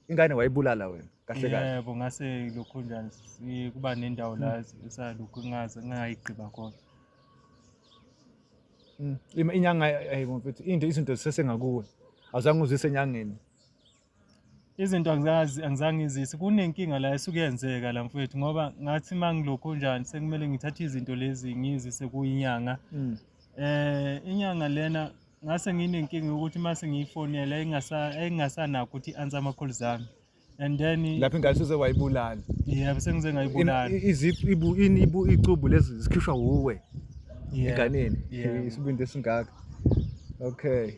ingane wayibulala wena kahle kahle yebo ngase lokhu njani si- kuba nendawo la hmm. esalokhu ngaze ngayigqiba khona Mm. Ima- inyanga ayi mfethu into izinto zisesengakuwe awuzange uzise enyangeni izinto angizazi angizange ngizise kunenkinga la esuke yenzeka la mfethu ngoba ngathi uma ngilokhu njani sekumele ngithathe izinto lezi ngizise kuyinyanga Mm. eh inyanga lena ngase nginenkinga yokuthi uma sengiyifonela engasanakho ukuthi i-answer ama-calls ami and then lapho ingane seze wayibulala yebo sengize ngayibulala icubu lezi zikhishwa wuwe enganeni isibindi esingaka okay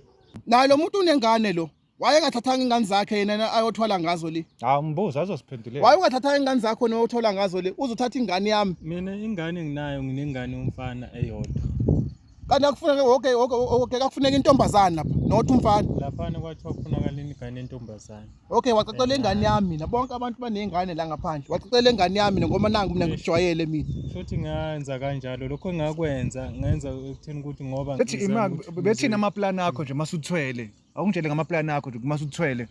naye lo muntu unengane lo wayengathathanga ingane zakhe yena ayothwala ngazo le hawu mbuzo azosiphendulela wayengathathanga ingane zakho noyothola ngazo le uzothatha ingane yami mina ingane nginayo nginengane umfana eyodwa kanti akufuneke woke woke woke kakufuneka intombazana lapha not umfana laphana kwathiwa kufunakala ingane entombazana okay wacacela ingane yami mina bonke abantu banezingane la ngaphandle wacacela ingane yami mina ngoba nangu mina ngijwayele mina futhi ngenza kanjalo lokho engakwenza ngenza ekutheni ukuthi ngoba bethi imali bethini amaplan akho nje masuthwele awungitshele ngamaplani akho nje uma uthwele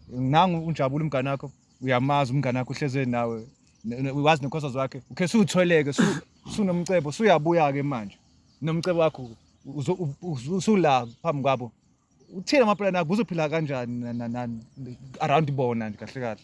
nangu unjabula umngane wakho uyamazi umngane wakho uhleze nawe wazi nekhosa zakhe ukhe suthweleke sunomcebo suyabuya ke manje nomcebo wakho usula phambi kwabo uthini amaplani akho uzophila kanjani around bona nje kahle kahle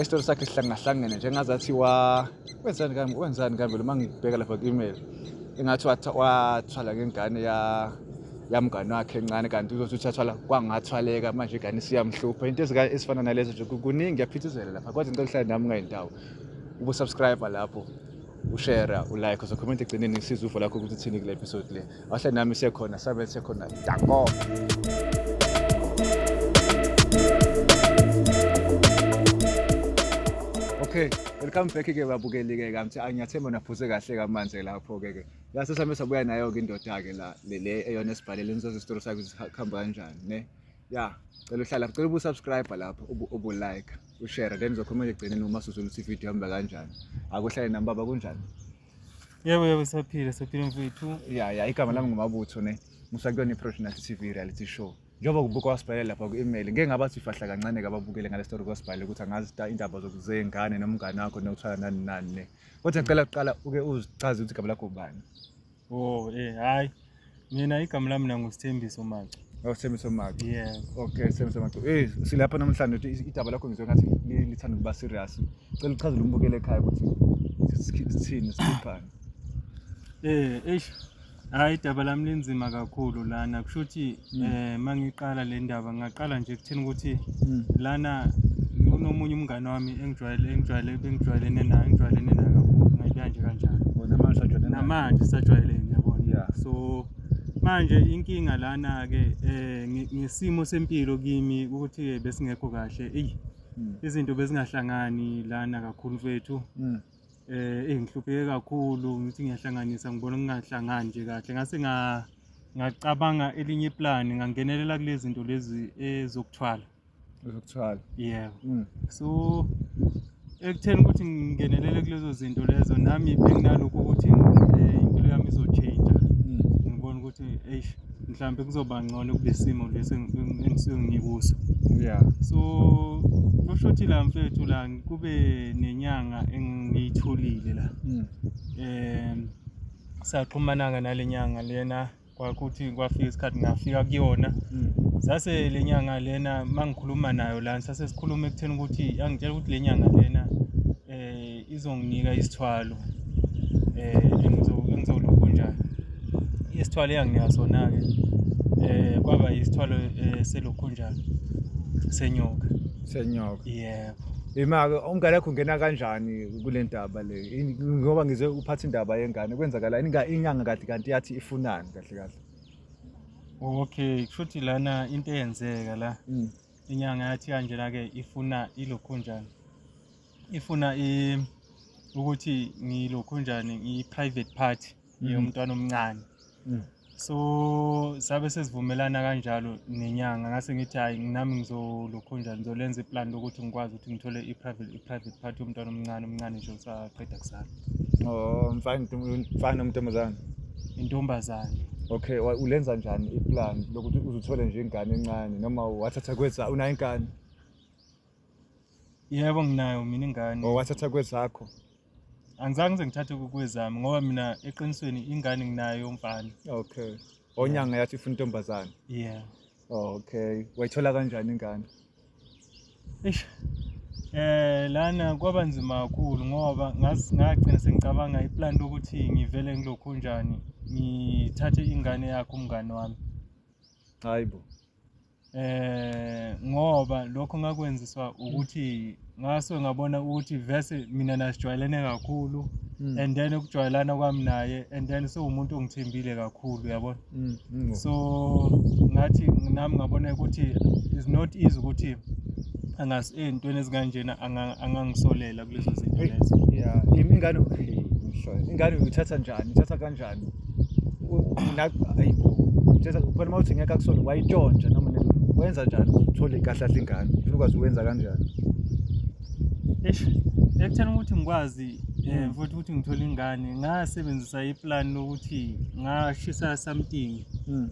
Isitori sakhe sihlangahlangene nje ngazathi wa wenzani kambe wenzani kambe uma ngibheka lapha ku-email engathi wathwala ngengane ya yamngane wakhe encane kanti uzothi uthathwala kwangathwaleka manje igane siyamhlupha into ezifana nalezo nje kuningi yaphithizela lapha kodwa ngicela uhlale nami ngayindawo ubusubscribe lapho ushera ulike uzokhomenta egcineni ngisiza uvo lakho ukuthi uthini kule episode le wahle nami siyekhona sabe siyekhona danko okay welcome back ke babukeli ke kamthi angiyathemba naphuze kahle kamanje lapho ke ke yasesame sabuya nayo ke indoda ke la le eyona esibhalele nizoze isitori sakhe sikhamba kanjani ne ya cela uhlala cela ubusubscribe lapho ubulike ushare then uzokhomela egcineni uma suzula ukuthi ividiyo ihamba kanjani akuhlale nami baba kunjani yebo yebo saphila saphila mfethu ya ya igama lami ngumabutho ne musa kuyona i-professional tv reality show njengoba kubuka wasibhalele lapha ku-email ngeke ngabathi ifahla kancane kababukele ngale story kwasibhalele ukuthi angazi indaba zokuzeyingane nomngane wakho nokuthwala nani nani ne kodwa ngicela kuqala uke uzichaze ukuthi igama lakho ubani Oh, eh hayi. Mina igama lami nangu Sithembiso Macu. Oh, Sithembiso Macu. Yeah. Okay, Sithembiso Macu. Eh, silapha namhlanje uthi idaba lakho ngizwe ngathi lithanda ukuba serious. Cela uchazele umbukele ekhaya ukuthi sithini siphani. Eh, eish. Hayi idaba lami linzima kakhulu lana kusho ukuthi Mm. Eh mangiqala le ndaba ngaqala nje kuthini ukuthi mm. lana kunomunye umngane wami engijwayele engijwayele bengijwayelene naye engijwayelene naye kakhulu ngayibeka nje kanjalo. Namanje sajwayelene. Namanje sajwayelene yabona. Yeah. So manje inkinga lana ke eh ngesimo sempilo kimi ukuthi besingekho kahle. Ey mm. izinto bezingahlangani lana kakhulu mfethu. eh engihlupheke kakhulu ngithi ngiyahlanganisa ngibona kungahlangani nje kahle ngase nga ngacabanga elinye plan ngangenelela kulezi zinto lezi ezokuthwala ezokuthwala yeah mm. so ekutheni ukuthi ngingenelele kulezo zinto lezo nami benginalokho ukuthi eh, impilo yami izotshintsha mm. ngibona ukuthi eish mhlawumbe kuzoba ngcono kulesimo lesi engisuke ngikuso yeah so kusho ukuthi la mfethu la kube nenyanga engiyitholile la mm. um saxhumananga nale nyanga lena kwakuthi kwafika isikhathi ngafika kuyona mm. sase le nyanga lena mangikhuluma nayo la sase sikhuluma ekutheni ukuthi angitshela ukuthi le nyanga lena izonginika isithwalo um engizolokhunja isithwalo eyanginika sona-ke um kwaba isithwalo um selokhunja senyoka senyoka yebo Imake umngane wakho ungena kanjani kule ndaba le? Yini- Ngoba ngizwe uphatha indaba yengane kwenzakala inga inyanga kade kanti yathi ifunani kahle kahle. Okay, kushuthi lana into eyenzeka la Mm. inyanga yathi kanjena ke ifuna ilokhunjana. ifuna ukuthi ngilokhu njani ngiyi-private party mm. yomntwana omncane mm. so sabe sesivumelana kanjalo nenyanga ngase ngithi hhayi nami ngizolokhu njani ngizolenza iplan lokuthi ngikwazi ukuthi ngithole i-private party yomntwana omncane omncane nje usaqeda kusana o oh, mfana omntombazane intombazane okay ulenza njani iplan lokuthi uzuthole nje ingane encane noma wathatha kweza unayo ingane Yebo nginayo mina ingane. Oh wathatha kwezakho. Angizange ngize ngithathe kukwezami ngoba mina eqinisweni ingane nginayo yomfana. Okay. Onyanga yathi ufuna intombazane. Yeah. Oh, okay. Wayithola kanjani ingane? Eish. Eh lana kwaba nzima kakhulu ngoba ngagcina sengicabanga iplan lokuthi ngivele ngilokhu njani ngithathe ingane yakho umngane wami. Hayibo. eh ngoba lokho ngakwenziswa ukuthi ngaso ngabona ukuthi vese mina nasijwayelene kakhulu mm. and then ukujwayelana kwami naye and then sewumuntu ongithembile kakhulu yabona mm, mm. so ngathi nami ngabona ukuthi is not easy ukuthi angas entweni ezikanjena angangisolela kulezo zinto Hey. lezo ya im- ingane hey, mhla- ingane uyithatha njani ithatha kanjani U- u- na- ayi bo uthatha khona uma uthi ngeke akusole wayitshontsha noma ne- wenza njani uthole kahle kahle ingane ufuna ukwazi uwenza kanjani eish ekutheni ukuthi ngikwazi um futhi ukuthi ngithole ingane ngasebenzisa iplan lokuthi ngashisa something Mm.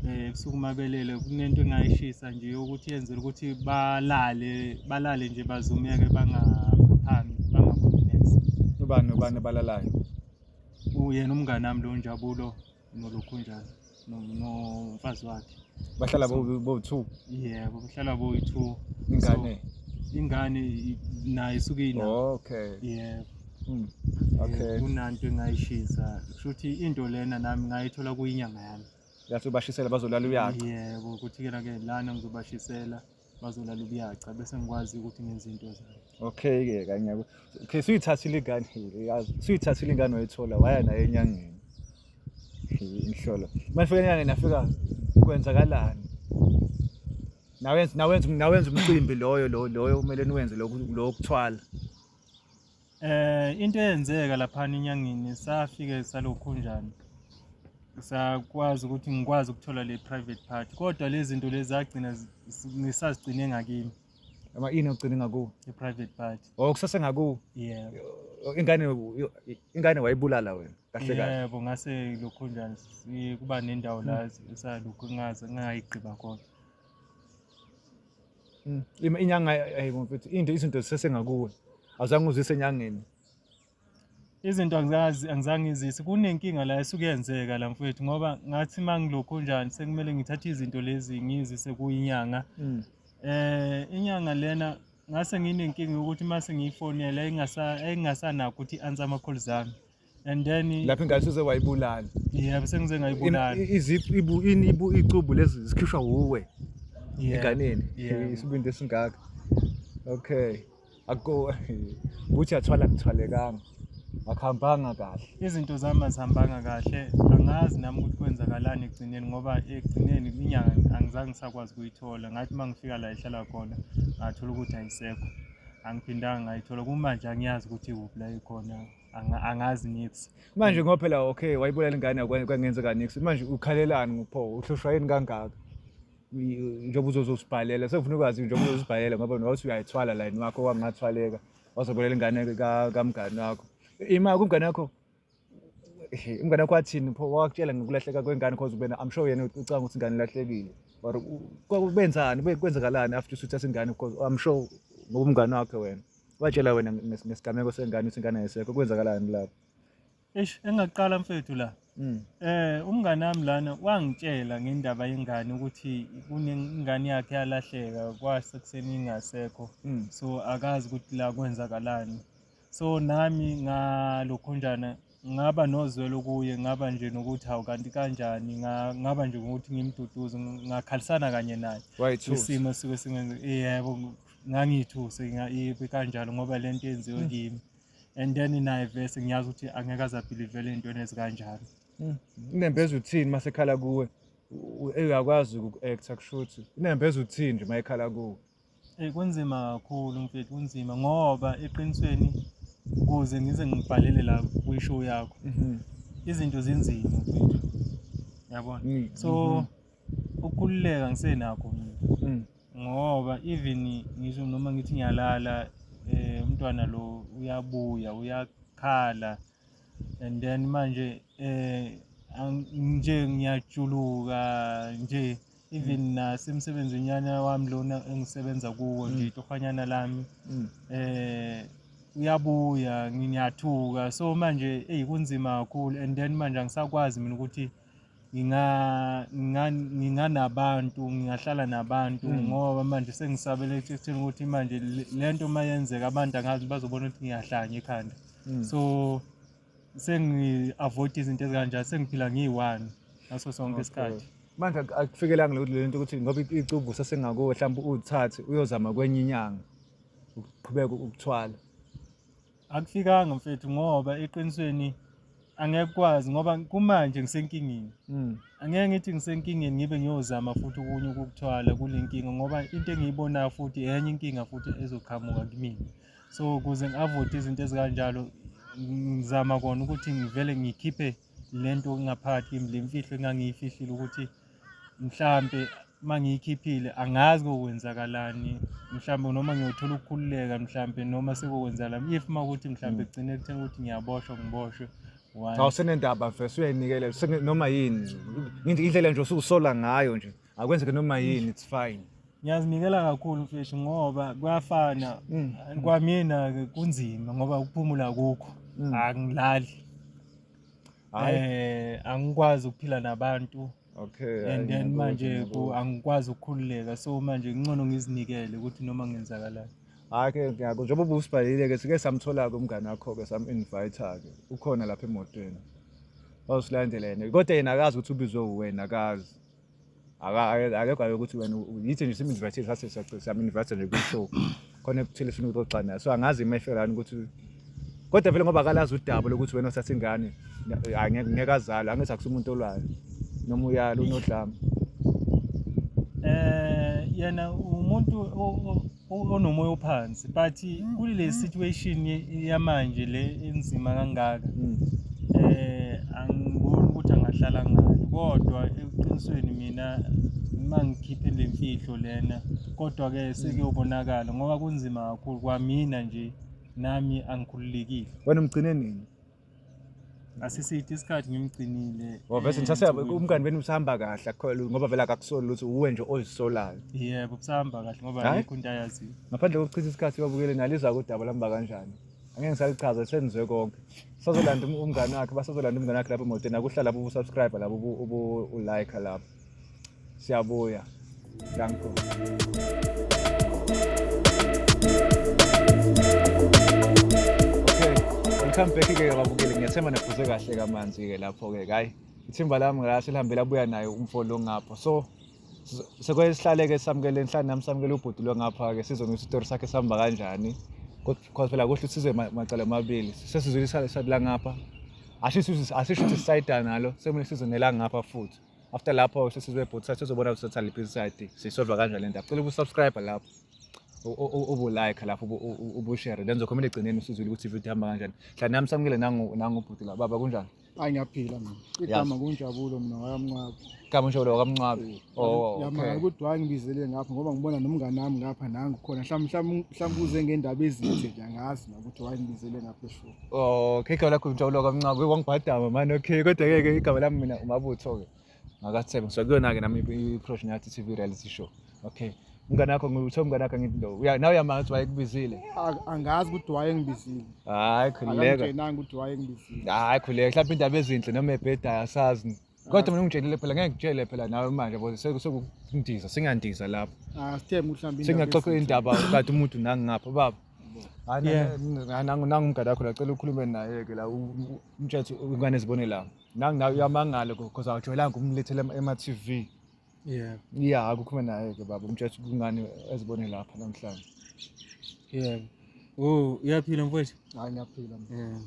um ebusuku mabelele kunento engayishisa nje yokuthi yenzela ukuthi balale balale nje bazumeke bangaphaphami bangaboni neze ubani ubani abalalayo uyena umngane wami lo njabulo nolokhu njalo no- nomfazi wakhe bahlala So- bo- bo-two yebo kuhlala boyi-two ingane So, ingane i- nayo isuke ina okay yebo Mm. Eh, okay kunanto engayishisa kushuthi into lena nami ngayithola kuyinyanga yami yathi ubashisela bazolala uyazi yebo kuthi-ke na-ke lana ngizobashisela bazolala ubuyaca bese ngikwazi ukuthi ngenze into zami okay ke kanye okay suyithathile ingane yazi suyithathile ingane wayithola waya naye enyangeni inhlolo mafika enyangeni nafika kwenzakalani nawenza nawenza nawenza umcimbi loyo loyo kumele niwenze lokho lokuthwala Eh into eyenzeka lapha enyangeni safike salokhunjana sakwazi ukuthi ngikwazi ukuthola le private part kodwa lezi zinto lezi zagcina ngisazigcine ngakimi ama ini ogcine ngakuwe i private part oh kusase ngakuwe yeah ingane ingane wayibulala wena kahle kahle yebo ngase lokho njani kuba nendawo la esalokhu ngaze ngayigqiba khona Mm. Ima inyanga ayibo mfethu into izinto zisesengakuwe. Awuzange uzise enyangeni. Izinto angizazi angizange izise. Kunenkinga la esuke yenzeka la mfethu ngoba ngathi mangilokhu njani sekumele ngithathe izinto lezi ngizise kuyinyanga. Mm. Eh inyanga lena ngase nginenkinga yokuthi mase ngiyifonela ingasanakho ukuthi i-answer ama-calls ami and then lapho ingane seze wayibulala yeah bese ngize ngayibulala izibu ini ibu icubu lezi zikhishwa wuwe enganeni isibindi esingaka okay akho buthi athwala kuthwalekanga akuhambanga kahle izinto zami azihambanga kahle angazi nami ukuthi kwenzakalani ekugcineni ngoba ekugcineni inyanga angizange ngisakwazi ukuyithola ngathi uma ngifika la ihlala khona ngathola ukuthi ayisekho angiphindanga ngayithola kumanje angiyazi ukuthi ikuphi la ikhona Anga- angazi nix manje ngoba phela okay wayibulala ingane yakwa- kwangenzeka nix manje ukhalelani ngopho uhlushwa yini kangaka Y- njengoba uzozosibhalela sekufuna ukwazi njengoba uzozibhalela ngoba nowathi uyayithwala layini wakho wangathwaleka wazobulala ingane ka- kamngani wakho ima kumngane wakho Ehe, umngane wakho wathini pho wakutshela ngokulahleka kwengane cause ubena i'm sure yena ucanga ukuthi ingane ilahlekile or u- kwa- benzani Kube- kwenzakalani after usuthatha ingane because i'm sure ngoba umngane wakhe wena watshela wena nges- ngesigameko sengane ukuthi ingane ayisekho kwenzakalani lapho Eish engaqala mfethu la. Mm. Eh umngane wami lana wangitshela ngendaba yengane ukuthi kunengane yakhe yalahleka kwase kuseni ingasekho. Mm. So akazi ukuthi la kwenzakalani. So nami ngalokhunjana ngaba nozwelo kuye ngaba nje nokuthi hawu kanti kanjani nga- ngaba nje ngokuthi ngimduduze ng- ngakhalisana kanye naye wayithusa isimo esisuke singenze yebo ng- ngangiyithuse nga- ibe kanjalo ngoba le nto yenziwe Mm. kimi and then naye vese ngiyazi ukuthi angeke aze abhilivele ey'ntweni ezikanjalo inembeza uthini uma sekhala kuwe U- u- uyakwazi uku-acta kusho ukuthi inembeza uthini nje uma ekhala kuwe Eyi kunzima kakhulu mfethu kunzima ngoba eqinisweni kuze ngize ngibhalele la kwishow yakho Mhm. izinto zinzima mfethu yabona Mm, so mhm. ukukhululeka ngisenakho mina Mm. ngoba even ngisho noma ngithi ngiyalala eh umntwana lo uyabuya uyakhala and then manje eh nje ngiyajuluka nje even mm. nasemsebenzini yana wami lona engisebenza kuwo mm. nje itohwanyana lami mm. eh uyabuya ngiyathuka so manje eyi kunzima kakhulu and then manje angisakwazi mina ukuthi nginganabantu ngingahlala nabantu hmm. ngoba manje sengisabele ekutheni ukuthi manje le nto uma yenzeka abantu angazi bazobona ukuthi ngiyahlanya ekhanda hmm. so sengi-avoid izinto ezikanjani sengiphila ngiyi-one ngaso sonke isikhathi manje akufikelanga lokuthi le nto ukuthi ngoba icubu sasengakuwe mhlawumbe uthathe uyozama kwenye inyanga ukuqhubeka ukuthwala akufikanga mfethu ngoba eqinisweni angeke kwazi ngoba kumanje ngisenkingeni mm. angeke ngithi ngisenkingeni ngibe ngiyozama futhi okunye ukukuthwala kule nkinga ngoba into engiyibonayo futhi enye inkinga futhi ezoqhamuka kumina so ukuze ngi-avoide izinto ezikanjalo ngizama kona ukuthi ngivele ngikhiphe le nto ingaphakathi kimi le mfihlo engangiyifihlile ukuthi mhlampe uma ngiyikhiphile angazi kokwenzakalani mhlawumbe noma ngiyothola ukukhululeka mhlawumbe noma sekokwenzakala if uma ukuthi mhlawumbe mm. kugcine kuthena ukuthi ngiyaboshwa ngiboshwe cha usenendaba mfes uyayinikela noma yini indlela nje usukusola ngayo nje akwenzeke noma yini it's fine ngiyazinikela kakhulu mfeshi ngoba kuyafana Mm. kwamina ke kunzima ngoba ukuphumula kukho Mm. angilali hayi eh angikwazi ukuphila nabantu okay hayi, and then ngiyabuzwa, manje ku- ngiyabuzwa. angikwazi ukukhululeka so manje ngcono ngizinikele ukuthi noma ngenzakalayo hayi ke ngiyako njengoba ubusibhalile ke sike samthola-ke umngane wakho-ke sam-invite-ke ukhona lapha emotweni wawusilandela yena kodwa yena akazi ukuthi ubizwe uwena akazi akekho ayo ukuthi wena yithi nje siminvite sase siyaminvite nje kwi-show khona ekuthile funa ukuxoxa naye so angazi uma efelani ukuthi kodwa vele ngoba akalazi udaba lokuthi wena uthatha ingane ngeke azale angithi akusi umuntu olwayo noma uyalo unodlama eh yena umuntu onomoya ophansi but kuli le situation yamanje le enzima kangaka mm. eh angiboni ukuthi angahlala ngalo kodwa eqinisweni mina mangikhiphe le mfihlo lena kodwa ke sekuyobonakala ngoba kunzima kakhulu kwamina nje nami angikhululekile wena umgcine nini asiside isikhathi ngimgcinile oh, vese ngisasaba eh, umngani benu usahamba kahle akholwa ngoba vele akakusoli ukuthi uwe nje ozisolayo yebo kusahamba kahle ngoba ayikho into ayaziyo ngaphandle kokuchitha isikhathi uyobukele naliza kodaba lamba kanjani angeke ngisalichaza senizwe konke sazolanda umngani wakhe basazolanda umngani wakhe lapho emotweni akuhlala lapho ubusubscribe lapho ubu-like lapho Siyabuya. Danko. Okay. Welcome back ke babukeli. Ngiyathemba nephuze kahle kamanzi ke lapho ke. Hayi. Ithimba lami ngase lihambe labuya naye umfo lo ngapho. So sekwesihlaleke samukele enhlani nami samukele ubhuti lo ngapha ke sizona isitori sakhe sihamba kanjani. Kodwa phela kuhle usize macala amabili. Sesizwile isala ngapha. Asisho ukuthi sisayida nalo sekumele sizonela ngapha futhi. after lapho sesizwe both sides sezobona ukuthi sathanda liphi side siyisolva kanjani lento cela ukusubscribe lapho ubulike lapho ubushare then zokhomela egcineni usizwile ukuthi ivideo ihamba kanjani hla nami samukile nangubhuti la baba kunjani hayi ngiyaphila mina igama kunjabulo mina wakamncwabi igama unjabulo wakamncwabi oh, oh, yamanga ukuthi waye ngibizele ngapha ngoba ngibona nomngane wami ngapha nangu khona mhlawumbe mhlawumbe uze ngendaba ezithe nje angazi nokuthi waye ngibizele ngapha Oh, okay, igama lakho ngijabula kamncane kwangibhadama manje okay kodwa ke ke igama lami mina umabutho ke ngakathemba ngisuka kuyona ke nami i-profession yathi TV reality show okay umngane wakho ngithe umngane wakho ngithi lo uya nawe uyamazi ukuthi wayekubizile A- angazi ukuthi wayengibizile hayi khululeka akamtshenanga ukuthi wayengibizile hayi khululeka mhlawumbe indaba ezinhle noma ebhedayo asazi kodwa mina ungitshelile phela ngeke ngitshele phela nawe manje boze sekundiza singandiza lapho ah sithembe uhlambile singaxoxa indaba kade umuntu nangingapha baba nangumgada wakho lacela ukhulume naye-ke la umtshethe ingane zibone la nanginayo uyamangala because awujwayelanga ukumlethela ema-t v yebo ya kukhuluma naye ke baba umtshela ukuthi kungani ezibone lapha namhlanje yebo oh uyaphila mfowethu hayi ngiyaphila mina.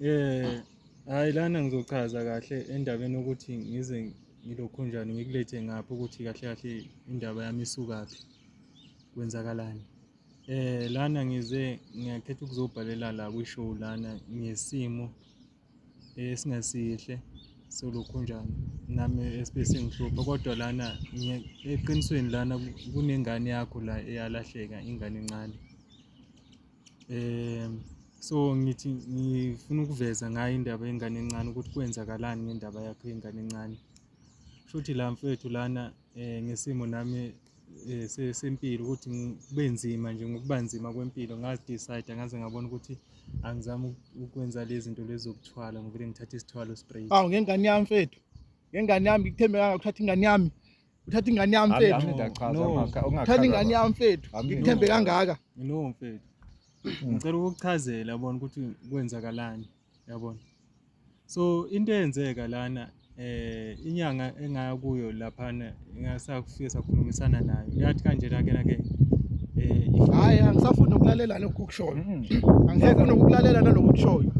Yeah. Eh, hayi lana ngizochaza kahle endabeni ukuthi ngize ngilokhunjani ngikulethe ngapha ukuthi kahle kahle indaba yami isukaphi kwenzakalani. Eh lana ngize ngiyakhetha ukuzobhalela la kwishow lana ngesimo esingesihle solukhunjana nami esibe singihlupha kodwa lana eqinisweni lana kunengane yakho la eyalahleka ingane encane um so ngithi ngifuna ukuveza ngayo indaba yengane encane ukuthi kwenzakalani ngendaba yakho yengane encane shuthi la mfethu lana um ngesimo nami um sempilo ukuthi kube nzima nje ngokuba nzima kwempilo ngazidicide ngaze ngabona ukuthi angizami ukwenza le zinto lezi zokuthwala ngivele ngithathe isithwalo straight awu ngengane yami mfethu ngengane yami ngikuthembe kangaka uthatha ingane yami uthatha ingane yami mfethu uthatha ingane yami mfethu ngikuthembe kangaka no mfethu ngicela ukukuchazela bona ukuthi kwenzakalani yabona so into eyenzeka lana eh inyanga engaya kuyo laphana ingasakufike sakhulumisana nayo yathi kanje nake nake eh hayi angisafuni ukulalela lokho kushoyo mm-hmm. angisafuni ukulalela nalokho kushoyo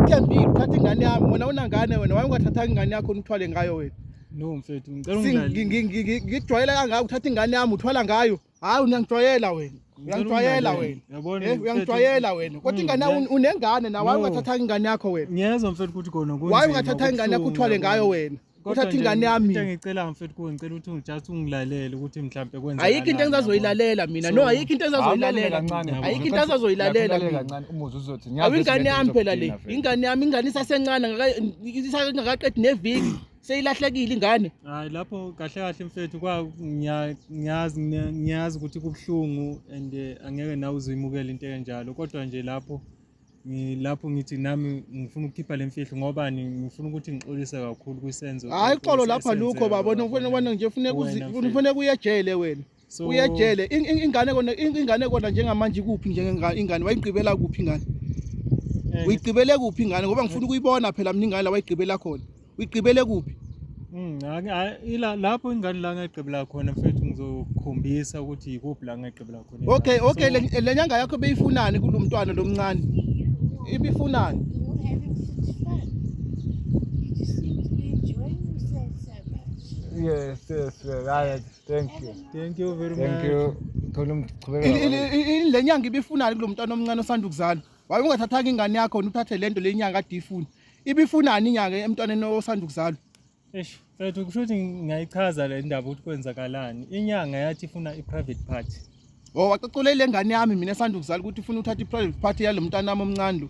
ithembile uthatha ingane yami wena unangane wena waye ungathathanga ingane yakho uthwale ngayo wena no mfethu ngicela ungidlale ngijwayele kangaka uthatha ingane yami uthwala ngayo Hayi unangijwayela wena. Uyangijwayela wena. Yabona? Eh uyangijwayela wena. Kodwa ingane yakho unengane na why ungathatha ingane yakho wena? Ngiyezwa mfethu ukuthi khona kunzima. Why ungathatha ingane yakho uthwale ngayo wena? Uthatha ingane yami. Into engicela mfethu kuwe ngicela ukuthi ungijust ungilalele ukuthi mhlambe kwenza. Ayikho into engizazoyilalela mina. No ayikho into engizazoyilalela. Ayikho into engizazoyilalela mina. Kancane umuzi uzothi ngiyazi. Awingane yami phela le. Ingane yami ingane isasencane ngaka isakaqedi neviki. seyilahlekile ingane hayi lapho kahle kahle mfethu kwa ngiyazi ngiyazi ukuthi kubuhlungu and eh, angeke nawe uzuyimukela into enjalo kodwa nje lapho ngilapho ngithi nami ngifuna ukukhipha le mfihlo ngoba ngifuna ukuthi ngixolise kakhulu kwisenzo hayi xolo lapha lukho babona ufuna ubona nje ufuna ufuna kuye ejele wena so uyejele In- in- ingane kona in- ingane kona njengamanje ikuphi njengengane ingane wayigqibela kuphi ingane eh, uyigqibele kuphi ingane ngoba ngifuna ukuyibona phela mina ingane la wayigqibela khona uyigqibele kuphi mm, angi- a- ila- lapho ingane la ngayigqibela khona mfethu ngizokhombisa ukuthi yikuphi la ngayigqibela khona ingane. okay okay So, le- le nyanga yakho beyifunani kulo mntwana lo mncane ibifunani You don't have it satisfied. You just seem to be enjoying yourself so much. Yes, yes, yes. I, Thank you. Thank you very Thank much. you. Khona umchubeka. Ili- ili- ili- ili- le nyanga ibifunani kulo mntwana omncane osanda ukuzalwa waye ungathathanga ingane yakho wena uthathe le nto le nyanga ade ifuna ibifunani inyanga emntwaneni osanda ukuzalwa Eish, mfethu kusho ukuthi ngiyayichaza le ndaba ukuthi kwenzakalani. Inyanga yathi ifuna i-private party. Oh waxoxola ile ngane yami mina sanda ukuzala ukuthi ufuna uthatha i-private party yalo mntana wami omncane lo.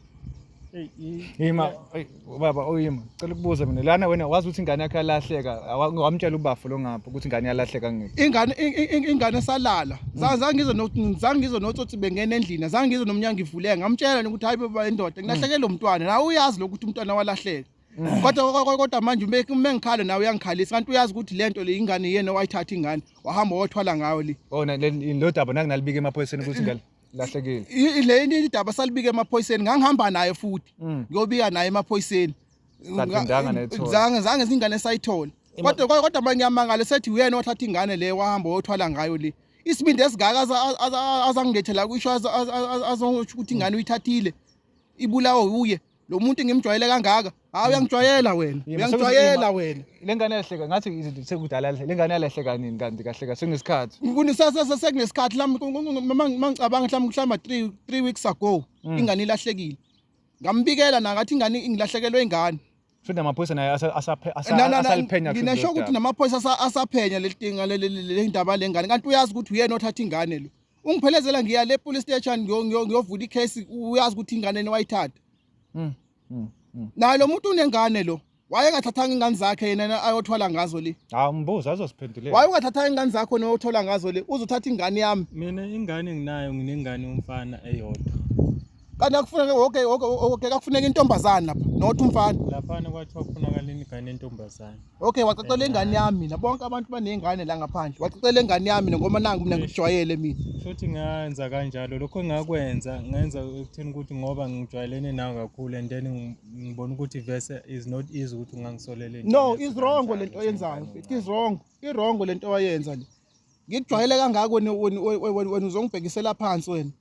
Yima eyi, baba oyima cela ukubuza mina lana wena wazi ukuthi ingane yakho yalahleka awa- wamtshela ubafo lo ngapha ukuthi ingane yalahleka ngiphi Ingane in- in- in- ingane salala. Za- Zange ngizwe no zange ngizwe notsotsi bengena endlini. Zange ngizwe nomnyango ivuleka. Ngamtshela nje ukuthi hayi baba indoda ngilahleke lo mntwana. Nawe uyazi lokuthi umntwana walahleka. Mm. kodwa kodwa manje uma ngikhala nawe uyangikhalisa kanti uyazi ukuthi le nto le ingane yena owayithatha ingane wahamba wathwala ngayo le oh lo daba nakunalibika emaphoyiseni ukuthi ngale lahlekile le into idaba salibika emaphoyiseni ngangihamba naye futhi mm. ngiyobika naye emaphoyiseni zange zange zingane sayithola kodwa kodwa manje ngiyamangala sethi uyena wathatha ingane le wahamba wathwala ngayo le isibindi esingaka azangilethela kusho azongisho ukuthi ingane uyithathile ibulawo uye lo muntu ngimjwayele kangaka hayi uyangijwayela wena uyangijwayela wena le ngane yahleka ngathi izinto sekudala le ngane yalehleka nini kanti kahleka sekunesikhathi sekunesikhathi mangicabanga mhlawumbe mhlawumbe three three weeks ago mm. ingane ilahlekile ngambikela nangathi ingane ingilahlekelwe ingane futhi namaphoyisa naye asaliphenya nginasho ukuthi namaphoyisa asaphenya leli tinga le ndaba lengane kanti uyazi ukuthi uyena othatha ingane lo ungiphelezela ngiya le police station ngiyovula icase uyazi ukuthi ingane yena wayithatha mm, mm, mm. naye lo muntu unengane lo wayengathathanga ingane zakhe yena ayothwala ngazo le hawu mbuzo azosiphendulela wayengathathanga ingane zakho nowothola ngazo le uzothatha ingane yami mina ingane nginayo nginengane umfana eyodwa kanti akufuneke woke woke woke akufuneka intombazane lapha not umfana laphana kwathiwa kufunakala ingane entombazane okay wacacela ingane yami mina bonke abantu banezingane la ngaphandle wacacela ingane yami mina ngoba nangu mina ngijwayele mina futhi ngenza kanjalo lokho engakwenza ngenza ekutheni ukuthi ngoba ngijwayelene nawe kakhulu and then ngibona ukuthi verse is not easy ukuthi ungangisolele no is wrong lento oyenzayo it is wrong i wrong lento oyenza le ngikujwayele kangaka wena wena uzongibhekisela phansi wena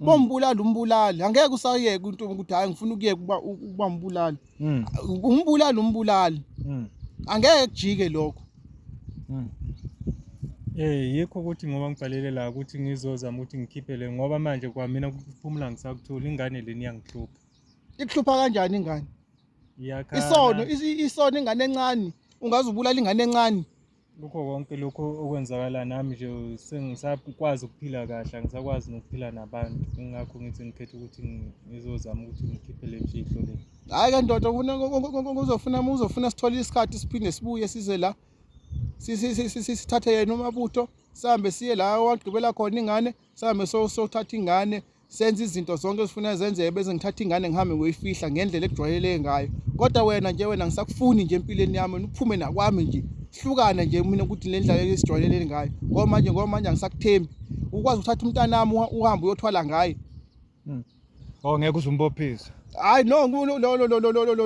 Mm. bombulali umbulali angeke usayeke into ukuthi hayi ngifuna ukuyeka ukuba ukuba mbulali mm. umbulali umbulali mm. angeke kujike lokho Eh yikho ukuthi ngoba ngibhalele la ukuthi ngizozama ukuthi ngikhiphe le ngoba manje kwamina kuphumula ngisakuthula ingane leni yangihlupha. Ikuhlupha kanjani ingane? Iyakhala. Isono isono ingane encane ungaze ubulala ingane encane. kukho konke lokhu okwenzakala nami nje sengisakwazi ukuphila kahle angisakwazi nokuphila nabantu ingakho ngithi ngikhetha ukuthi ngizozama ukuthi ngikhiphe le mfihlo le hhayi ke ndoda uzofuna uzofuna sithole isikhathi siphinde sibuye size la sithathe yena umabutho sihambe siye la wagqibela khona ingane sihambe sothatha ingane senze izinto zonke ezifuna zenzeke bese ngithatha ingane ngihambe ngoyifihla ngendlela ekujwayeleke ngayo kodwa wena nje wena ngisakufuni nje empilweni yami uphume nakwami nje hlukana nje mina ukuthi le ndlela esijwayelele ngayo ngoba manje ngoba manje angisakuthembi ukwazi ukuthatha umntanami uhambe uyothwala ngaye hmm. oh ngeke uzumbophise hayi no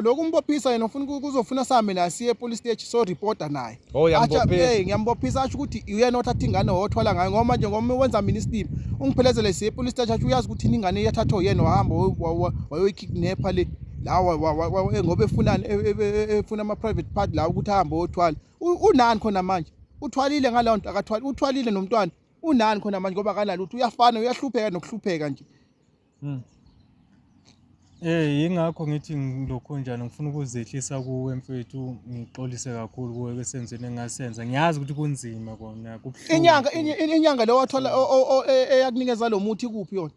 lokhu umbophisa yena ufuna kuzofuna same naye siye police stage so reporter naye oh, achae ngiyambophisa asho ukuthi uyena othatha ingane wothwala ngayo ngoba nje ngoba wenza mina isitimu ungiphelezele siye police stage asho uyazi ukuthi ingane yathathwa yena wahamba wayoyikidnapper le lawa eh, ngoba efunani e, e, e, efuna ama-private part lawa ukuthi ahambe othwala unani khona manje uthwalile ngaleyo nto akathwali uthwalile nomntwana unani khona manje ngoba akanalutho uyafana uyahlupheka nokuhlupheka nje Hmm. Eh yingakho ngithi ngilokhu njani ngifuna ukuzehlisa kuwe mfethu ngixolise kakhulu kuwe besenzweni engasenza ngiyazi ukuthi kunzima kona kubuhlungu inyanga inyanga le wathola e, e, eyakunikeza lo muthi kuphi yona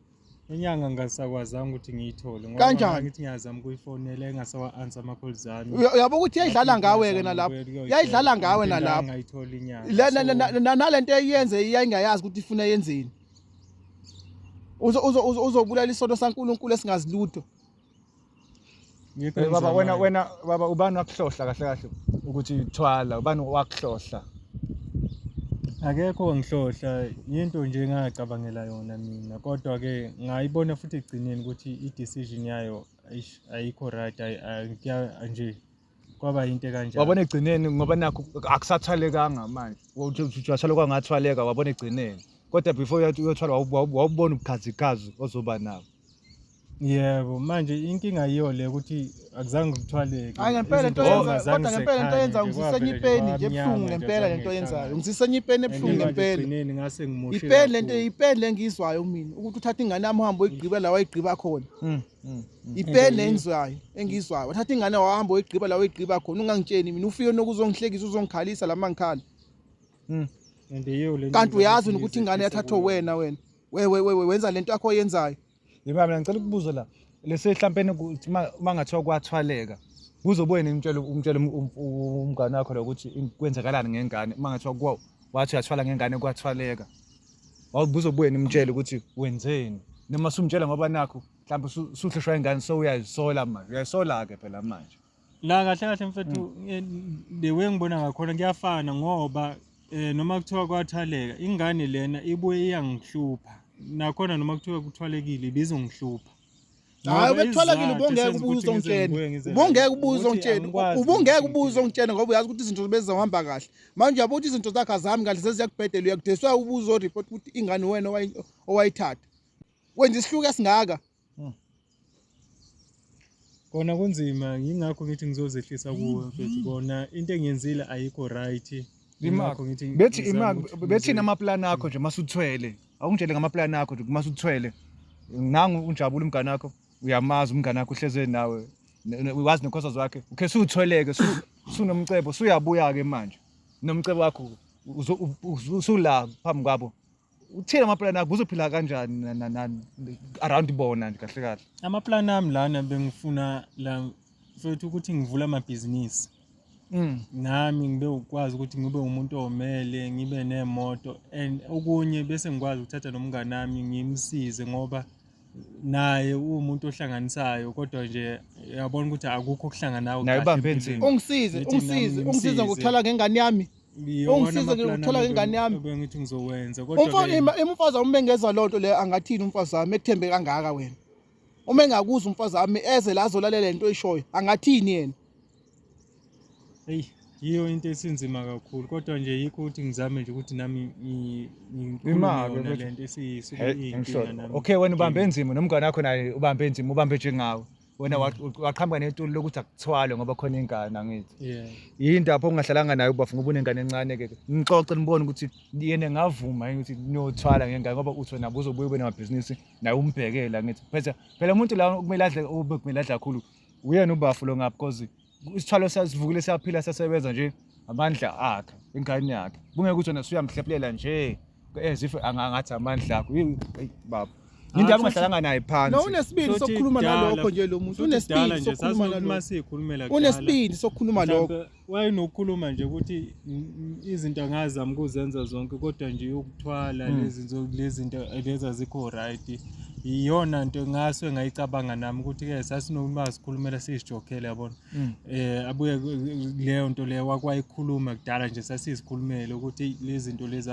inyanga ngasakwazanga ukuthi ngiyithole ngoba Kanjani? ngithi ngiyazama ukuyifonela engasawa-ansa ama-call zami Uya- uyabo ukuthi yayidlala ngawe-ke nalapho yayidlala ngawe nalapho ngayitholi inyanga nale nto eyenze yayingayazi ukuthi ifuna yenzeni uzobulala isono saNkulunkulu esingazilutho eh, baba wena wena baba ubani wakuhlohla kahle kahle ukuthi thwala ubani wakuhlohla akekho ngihlohla yinto nje engacabangela yona mina kodwa ke ngayibona futhi ekugcineni ukuthi i-decision yayo ayikho right nje kwaba yinto kanjalo wabona egcineni ngoba nakho akusathwalekanga manje ujathwala kwangathwaleka wabona egcineni kodwa before uyothwala wawubona ubukhazikhazi ozoba nabo yebo manje inkinga yiyo le ukuthi akuzange kuthwaleke hayi ngempela into yenza kodwa ngempela into yenza ngisisenya ipeni nje ebuhlungu ngempela lento yenzayo ngisisenya ipeni ebuhlungu ngempela ipeni lento ipeni lengizwayo mina ukuthi uthatha ingane yami uhambe uyigqiba la wayigqiba khona hmm. Mm, mm. ipeni engizwayo engizwayo wathatha ingane wahamba oyigqiba la oyigqiba khona ungangitsheni mina ufike nokuzongihlekisa uzongikhalisa lama ngikhala mm. kanti uyazi ukuthi ingane yathathwa wena wena wewe wewe wenza lento yakho oyenzayo yeba mina ngicela ukubuza la lese hlampeni ukuthi uma ngathiwa kwathwaleka kuzobuye nimtshela umtshela um, um, um, umngane wakho lokuthi kwenzakalani ngengane uma ngathiwa wathi uyathwala ngengane kwathwaleka wawubuza ubuye nimtshele ukuthi wenzeni noma sumtshela ngoba nakho mhlawumbe usu- usuhlushwa ingane so uyayisola manje uyayisola-ke phela manje la kahle kahle mfethu eh, the way ngibona ngakhona kuyafana ngoba eh, noma kuthiwa kwathaleka ingane lena ibuye iyangihlupha nakhona noma kuthiwa kuthwalekile ibizongihlupha hayi ubetholakile ubongeke ubuze ongitshene ubongeke ubuze ongitshene ubongeke ubuze ongitshene ngoba uyazi ukuthi izinto bezihamba kahle manje uyabo ukuthi izinto zakhe azami kahle zeziyakubhedela uyakudeswa ubuze oreport ukuthi ingane wena owayithatha wenza isihluku esingaka hmm. kona kunzima yingakho ngithi ngizozehlisa kuwe mfethu kona into engiyenzile ayikho right bethi bethi namaplani akho nje masuthwele awungitshele ngamaplani akho ukuthi uma suthwele nangu unjabula umngane wakho uyamazi umngane wakho uhleze nawe wazi nekhosa zakhe ukhe suthweleke sunomcebo suyabuya ke manje nomcebo wakho usula phambi kwabo uthini amapulani akho uzophila kanjani around bona nje kahle kahle amapulani ami lana bengifuna la mfethu ukuthi ngivula amabhizinisi Mm, nami ngibe ukwazi ukuthi ngibe umuntu omele ngibe nemoto and okunye bese ngikwazi ukuthatha nomngane wami ngimsize ngoba naye uwumuntu ohlanganisayo kodwa nje uyabona ukuthi akukho okuhlanganayo Naye kahle ubambe empilweni. nzima. ungisize Ngithi nami ungisize ungisize ngimsize. ngokuthola ngengane yami Iyona Ungisize amapulani ngokuthola ami ingane yami. ebengithi ngizowenza kodwa umfana ke- ima- umfazi awumbengeza loo nto leyo angathini umfazi wami ekuthembe kangaka wena uma engakuza umfazi wami eze la azolalela into oyishoyo angathini yena eyi yiyo into esinzima kakhulu kodwa nje yikho ukuthi ngizame nje ukuthi nami ngilento esiyinkinga nami okay wena ubambe enzima nomngane wakho naye ubambe enzima ubambe njengawe wena mm. waqhamuka netuli lokuthi akuthwale ngoba khona ingane angithi yinto apho ungahlalanga nayo ubafu ngoba unengane encane ke ngixoxe nibone ukuthi yena ngavuma ukuthi niyothwala ngengane ngoba uthi wena buzobuye ube namabhizinisi naye umbhekela ngithi phela phela umuntu la kumele adle ube kumele adla kakhulu uyena ubafu lo ngapha because isithwalo sasivukile siyaphila sasebenza nje amandla akhe ingane yakhe kungeke ukuthi wena suyamhlephelela nje as if angangathi amandla akho baba Yinto abangahlalanga naye phansi. No unesibindi sokukhuluma nalokho nje lo muntu. Unesibindi sokukhuluma nalokho. Unesibindi sokukhuluma lokho. wayenokukhuluma nje ukuthi izinto angazama ukuzenza zonke kodwa nje yokuthwala hmm. lezi lezinto lezi azikho right iyona nto ngaso engayicabanga nami ukuthi ke sasinoma sikhulumela sizijokhele yabona hmm. eh abuye leyo nto leyo wakwayikhuluma kudala nje sasizikhulumele ukuthi lezi zinto lezi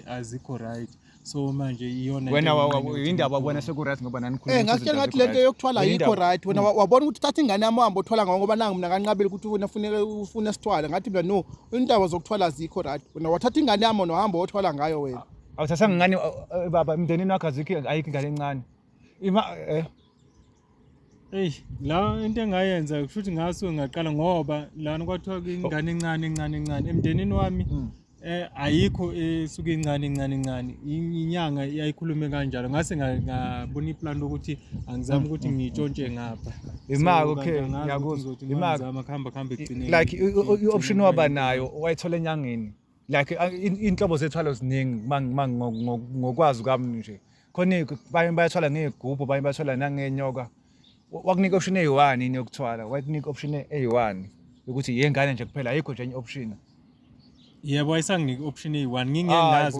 azikho right so manje iyona wena yindaba wabona seku-right ngoba nanikhuluma eh, ngasitshela ngathi lento yokuthwala yikho right wena mm. wabona ukuthi thatha ingane yami uhambe othwala ngawo ngoba nangu mina kanqabile ukuthi wena funeka ufuna sithwala ngathi mina no indaba zokuthwala zikho right wena wathatha ingane yami wena wahamba othwala ngayo wena awuthathanga ingane eh, baba emndenini wakho azikho ayikho ingane encane ima eh Eyi la into engayenza kusho ukuthi ngasuke ngaqala ngoba lana kwathiwa ingane encane encane encane emndenini wami mm. eh ayikho esuke incane incane incane inyanga yayikhulume kanjalo ngase ngabona iplan lokuthi angizama mm, ukuthi mm, ngitshontshe ngapha imaka okay ngiyakuzwa imaka ngizama khamba khamba ekugcineni like i-option waba nayo wayithola enyangeni like inhlobo zethwalo ziningi ngokwazi kwami nje khona banye bayathwala ngey'gubhu banye bathwala nangenyoka wakunika option eyi-one yini yokuthwala wakunika option eyi-one yokuthi yengane nje kuphela ayikho nje enye i-option yebo ayisanginiki i-option eyi-one ngingenazi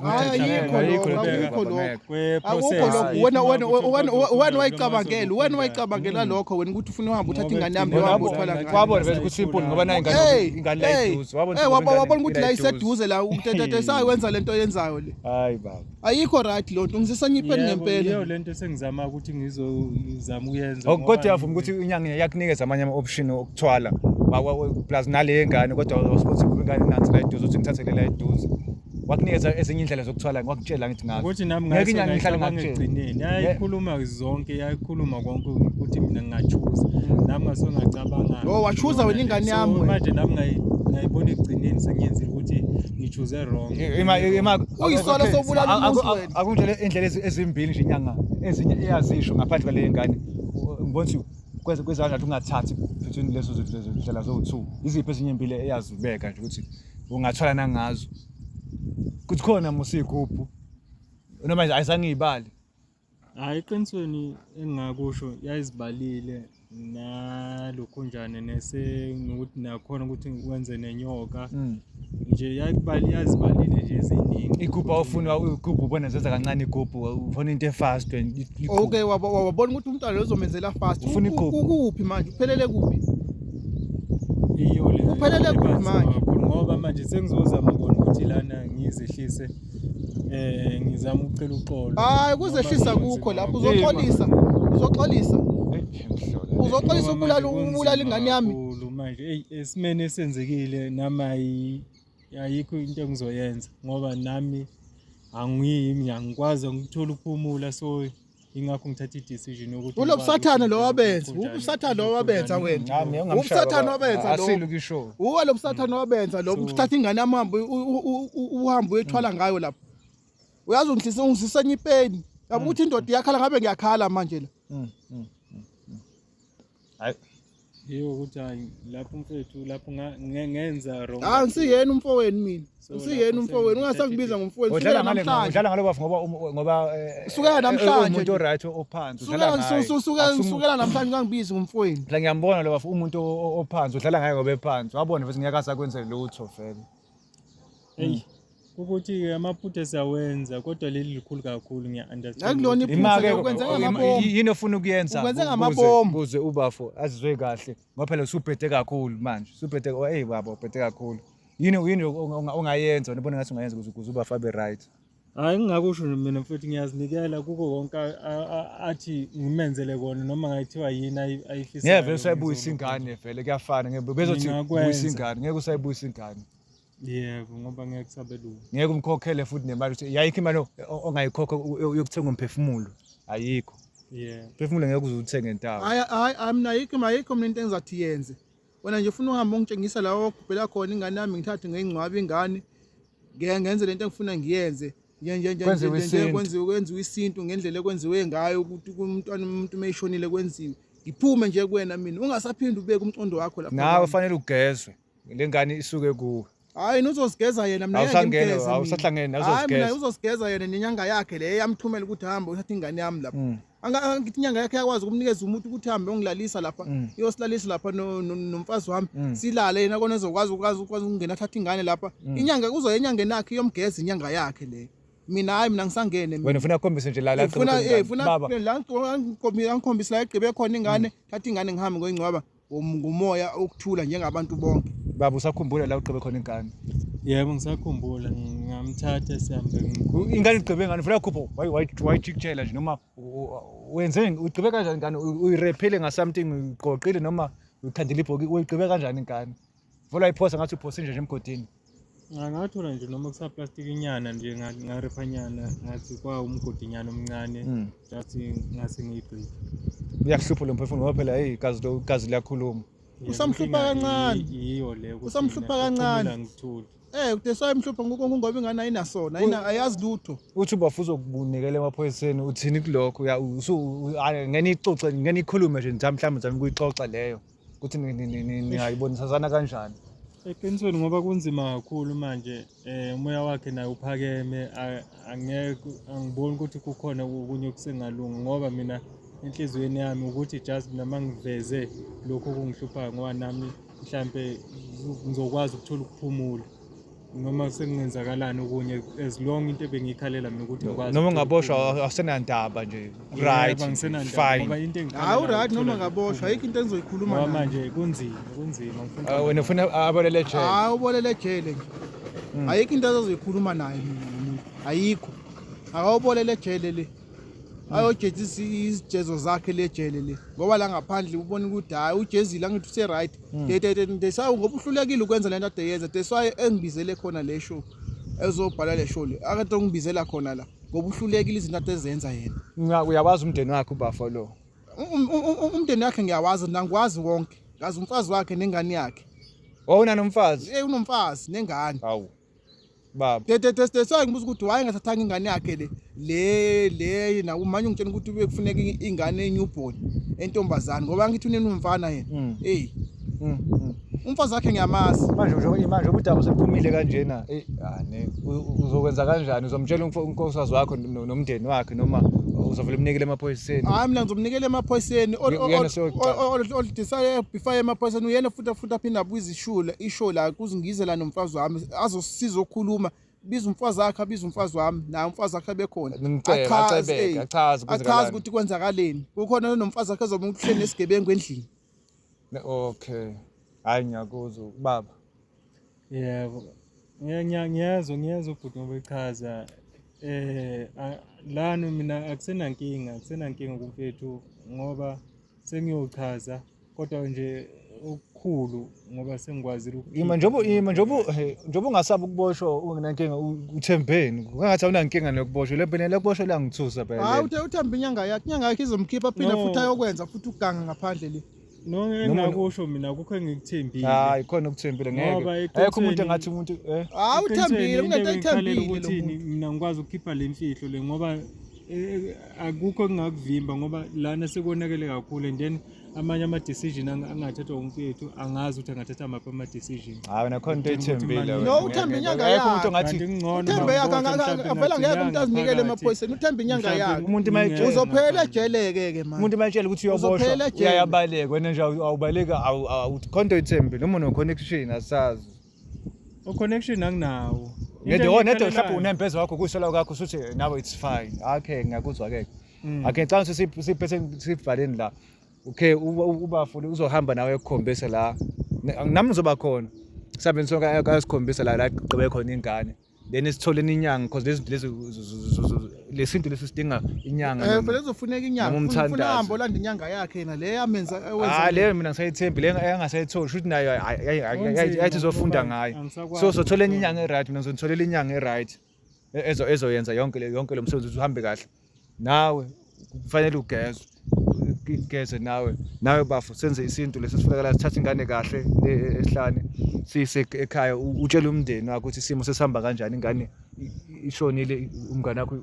wena wayicabangela wena wayicabangela lokho wena ukuthi ufuna uhambe uthatha ingane yami wabona vele ukuthi simple ngoba nayo ingane la iduze wabona ukuthi la iseduze la utetetesayo wenza le nto yenzayo le hayi baba ayikho right loo nto ngisesanyipeni ngempela yiyo le nto esengizama ukuthi ngizozama ukuyenza oh, kodwa uyavuma ukuthi inyanga yakunikeza amanye ama-option okuthwala plus nale yengane kodwa wasponsa kuba ingane nansi la eduze uthi ngithathele la eduze wakunikeza ezinye indlela zokuthwala ngwakutshela ngithi ngazo ukuthi nami ngeke inyanga ngihlale ngakugcineni yayikhuluma zonke yayikhuluma konke ukuthi mina ngingachuza hmm. nami ngase ngacabanga oh wachuza wena ingane yami manje nami ngayibona ekugcineni sengiyenzile ukuthi ngichuze wrong uyisona sobulala umuntu wena akungitshele indlela ezimbili nje inyanga ezinye iyazisho ngaphandle kwale ngane ngibona ukuthi kweze kwezana ukuthi ungathathi between lezo zindlela zowu-two iziphi ezinye impilo eyazibeka nje ukuthi ungathwala nangazo kuthi khona musikuphu noma ayizange iyibale Hhayi eqinisweni engingakusho yayizibalile nalokhunjane nese nokuthi nakhona ukuthi wenze nenyoka mm. nje yayikubali yazibalile nje eziningi igubhu awufuni igubhu ubona zenza kancane igubhu ufuna into efast okay wabona ukuthi umntwana lozomenzela fast ufuna igubhu ukuphi manje uphelele kuphi iyo le uphelele kuphi manje ngoba manje sengizozama kona ukuthi lana ngizehlise Eh ngizama ukucela uxolo. Hayi kuzehlisa kukho lapho uzoxolisa. Uzoxolisa. Uzoxolisa ubulala ubulala ingane yami. Manje hey esimene esenzekile nami ayikho into engizoyenza ngoba nami angiyimi angikwazi angithola ukuphumula so ingakho ngithatha i-decision yokuthi Ulo busathane lo wabenza, ubusathane lo wabenza wena. Nami engamshaya Ubusathane baba. wabenza lo. Asile ukisho. Uwe lo busathane wabenza lo uthatha ingane yami uhambe u- u- u- u- uhambe uyethwala ngayo lapho. Uyazi ungidlisa ungidlisa enye ipeni. Yabo ukuthi indoda iyakhala ngabe ngiyakhala manje la. hayi yiwo ukuthi hayi lapho mfethu lapho ngenza wrong hayi ah, ngisiyena umfowenu mina ngisiyena umfowenu ungasakubiza ngomfowenu udlala ngale udlala ngale bafu ngoba um, ngoba eh, sukela eh, namhlanje umuntu oright ophansi udlala ngaye sukela sukela namhlanje ungangibizi ngomfowenu la ngiyambona lo bafu umuntu ophansi udlala ngaye ngoba ephansi wabona futhi ngeke asakwenzele lutho vele hey ukuthi-ke amaphutha siyawenza kodwa leli likhulu kakhulu ngiya-understandnakulona iphutha ukwenza ngamabomu yini ofuna ukuyenza Ukwenze ngamabomu. kuze ubafo azizwe kahle ngoba phela usubhede kakhulu manje usubhede oh, eyi baba ubhede kakhulu yini yini ongayenza nibona ngathi ungayenza ukuze ukuze ubafo abe right hhayi ngingakusho nje mina futhi ngiyazinikela kuko konke athi ngimenzele kona noma ngayithiwa yini ayifisayo ngeke vele usayibuyisa ingane vele kuyafana ngeke bezothi buyisa ingane ngeke usayibuyisa ingane yebo ngoba ngeke kusabelungu ngeke umkhokhele futhi nemali ukuthi yayikho imali ongayikhokha yokuthenga umphefumulo ayikho yebo umphefumulo ngeke uze uthenge ntawo hayi hayi amna ayikho ayikho mina into engizathi yenze wena nje ufuna uhambe ungitshengisa la ogubhela khona ingane yami ngithathe ngeyingcwabe ingane ngenze lento engifuna ngiyenze kwenziwe kwenziwe isintu ngendlela ekwenziwe ngayo ukuthi umntwana umuntu uma eshonile kwenziwe ngiphume nje kuwena mina ungasaphinde ubeke umcondo wakho lapho nawe fanele ugezwe le ngane isuke kuwe hayi nizosigeza yena mina awusangene awusahlangene azosigeza uzosigeza yena nenyanga yakhe le yamthumela ukuthi hamba uthatha ingane yami lapha mm. angithi inyanga yakhe yakwazi ukumnikeza umuntu ukuthi hambe ongilalisa lapha mm. iyosilalisa lapha nomfazi wami mm. silale yena kona ezokwazi ukwazi ukwazi ukungena athatha ingane lapha inyanga kuzoya enyangeni yakhe iyomgeza inyanga yakhe le mina hayi mina ngisangene wena ufuna akhombise nje la la ufuna eh ufuna la ngikhombisa la egqibe khona ingane thatha ingane ngihambe ngoyingcwaba Um, ngumoya ukuthula njengabantu bonke baba usakhumbula la ugqibe khona ingane yebo ngisakhumbula ngamthatha sihambe ingane igqibe ngani funa khupho wayijikjela nje noma wenzeni ugqibe kanjani ingane uyirephile ngasomething uyiqoqile noma uyithandile ibhoki uyigqibe kanjani ingane Vula iphosa ngathi uphosa nje nje emgodini. Ngathola nje noma kusa plastic inyana nje ngarepha nyana ngathi kwa umgodi nyana omncane hmm. just ngase ngiyibreak. Uyakuhlupha lo mphefumulo ngoba phela hey gazi lo gazi liyakhuluma. Usamhlupha kancane. Yiyo le ukuthi usamhlupha kancane. Ngithuli. Eh kude so emhlupha ngoku ngoba ingane ayinasona ayina ayazi lutho. Uthi ubafuza ukubunikela emaphoyiseni uthini kulokho ngeke nixoxe ngeke nikhulume nje mhlawumbe mhlawumbe kuyixoxa leyo. ukuthi ningayibonisasana kanjani eqinisweni ngoba kunzima kakhulu manje um umoya wakhe naye uphakeme angeke angiboni ukuthi kukhona okunye okusengalungi ngoba mina enhliziyweni yami ukuthi just mina uma ngiveze lokhu okungihluphayo ngoba nami mhlampe ngizokwazi ukuthola ukuphumula noma sekungenzakalani okunye as long into ebengiyikhalela mina ukuthi ngikwazi noma ungaboshwa awusenandaba nje right fine ngoba into hawu right noma ngaboshwa ayikho into engizoyikhuluma ngoba manje kunzima kunzima ngifuna ah, wena ufuna abolele ejele hawu ubolele ejele nje hmm. ayikho into azozikhuluma naye mina umuntu ayikho akawubolele ejele le hmm. ayojezisa izijezo zakhe le jele le ngoba la ngaphandle ubona ukuthi hayi ujezile angithi use-right Mm. They, they, they, they say ngoba uhlulekile ukwenza lento ade yenza. That's why engibizele khona le show. Ezobhala le show le. Akade ngibizela khona la. Ngoba uhlulekile izinto ade zenza yena. Nga uyawazi umndeni wakhe ubafo lo. Um, um, um, umndeni wakhe ngiyawazi nangikwazi wonke. Ngazi umfazi wakhe nengane yakhe. Wawuna nomfazi? Eh unomfazi nengane. Hawu. baba tete tete so ngibuza ukuthi why ngathathanga ingane yakhe le le le na umanye ungitshena ukuthi ube kufuneka ingane enewborn entombazana ngoba ngithi uneni umfana yena mm. hey mm, mm. umfazi wakhe ngiyamazi manje nje manje ubudaba sebuphumile kanjena hey ane ah, uzokwenza kanjani uzomtshela unkosazi wakho nomndeni wakhe noma uzovele umnikele emaphoyiseni hayi mina ngizomnikela emaphoyiseni oludisaya before emaphoyiseni uyena futhi futhi aphinde abuyize ishow la ishow la kuzingize la nomfazi wami azosiza okhuluma biza umfazi wakhe abiza umfazi wami naye umfazi wakhe bekhona achaze achaze ukuthi kwenzakaleni kukhona nomfazi wakhe ezobe ukuhleni esigebengu endlini okay hayi ngiyakuzwa ubaba yebo ngiyezwa ngiyezwa ubhuti ngoba echaza eh lana mina akusenankinga akusenankinga kumfethu ngoba sengiyochaza kodwa nje okukhulu ngoba sengikwazile ima njengoba ima njengoba njengoba ungasabi ukuboshwa ungenankinga uthembeni kungathi awunankinga nokuboshwa le mpela lokuboshwa langithusa phela hayi uthe uthemba inyanga yakhe inyanga yakhe izomkhipha phinde futhi ayokwenza futhi uganga ngaphandle le noma engakusho mina kukho engikuthembile hayi khona ukuthembile ngeke ayikho umuntu engathi umuntu eh hayi uthembile umuntu ayithembile mina ngikwazi ukukhipha le mfihlo le ngoba Eh, akukho engingakuvimba ngoba lana sekonakele kakhulu and then amanye ama-decision ang- angathathwa umfethu angazi ukuthi angathatha maphi ama-decision hayi wena khona into ethembile wena. No, uthemba inyanga Ngeke umuntu yakhe. ongathi Kanti kungcono uthembe uma yakhe ubotshwa anga- mhlawumbe anga- avela ngeke umuntu nazinyanga azinikele phakathi. emaphoyiseni uthembe inyanga Mhlawumbe yakhe umuntu uma etshela- Ngeke. uzophela ejele-ke ke manje umuntu uma etshela ukuthi Uzophela uyoboshwa ejele. uyayabaleka wena nje awu- awubaleki awu- awu- khona into ethembile uma uno-connection asazi U connection anginawo. Ngede wona ngede mhlawumbe unembeza wakho kushola kwakho usuthi nawe it's fine. Okay ngiyakuzwa ke. Mm. Okay xa ngisiphe siphethe sibhaleni la. Okay uba futhi uzohamba nawe ekukhombisa la. Nami ngizoba khona. Sabeni sonke akasikhombisa la la gqibe khona ingane. then isithole inyanga because lezi lezi lesintu lesi sidinga inyanga eh phela kuzofuneka inyanga ufuna hambo landa inyanga yakhe yena le yamenza ewenza ah le mina ngisayithembi le engasayithola shuthi nayo yayithi zofunda ngayo so sothola enye inyanga e-right mina ngizonitholela inyanga e-right ezo ezoyenza yonke yonke lo msebenzi uhambe kahle nawe kufanele ugezwe igeze nawe nawe bafo senze isintu lesi sifunakala sithathe ingane kahle le esihlane siyise ekhaya utshele umndeni wakho ukuthi isimo sesihamba kanjani ingane ishonile umngane wakho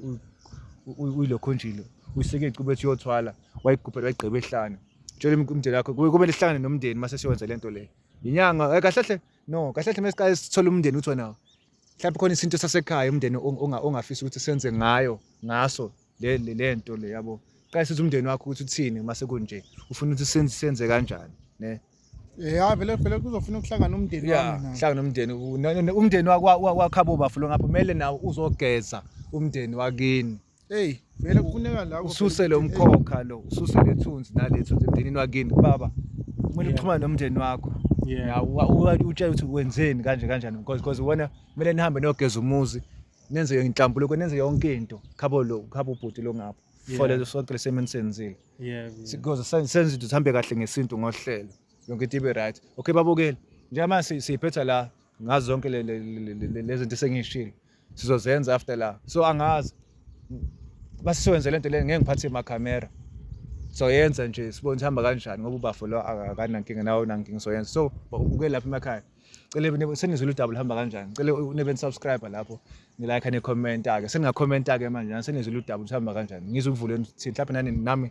uyilokhonjile uyiseke icubethi yothwala wayigubhela wayigqiba ehlane tshela umndeni wakho kumele sihlangane nomndeni mase siyowenza lento le inyanga eh, kahle kahle no kahle kahle mesiqale sithola umndeni uthi wena mhlawumbe khona isintu sasekhaya umndeni ongafisa ukuthi senze ngayo ngaso le le nto le yabo qala sithi umndeni wakho ukuthi uthini uma sekunje ufuna ukuthi senze senze kanjani ne eh, ya vele vele kuzofuna ukuhlangana umndeni wami na hlangana umndeni umndeni wakhabo bafo lo ngapha kumele nawo uzogeza umndeni wakini Hey, vele kufuneka la ususe lo mkhokha lo, ususe lethunzi nalethunzi emndenini wakini baba. Kumele uxhumane nomndeni wakho. Yeah. Utshela ukuthi wenzeni kanje kanjani because because ubona kumele nihambe nogeza umuzi nenze inhlambuluko nenze yonke into khabo lo khabo bhuti lo ngapha for lezo sonke lesemeni senzile yeah because senze into sihambe kahle ngesintu ngohlelo yonke into ibe right okay babukeli njengoba siyiphetha la ngazo zonke lezi zinto esengiyishilo sizozenza after la so angazi basiwenze lento leni ngeke ngiphathe imakhamera soyenza nje sibone sihamba kanjani ngoba ubafo lo akanankinga nawo nankinga soyenza so uke lapha emakhaya cele senizwile udaba luhamba kanjani cele nibe nisubscribe lapho nilike nikhomenta-ke seningakhomenta-ke manje senizwile udaba luhamba kanjani ngizukuvuleni thini mhlawumbe nani nami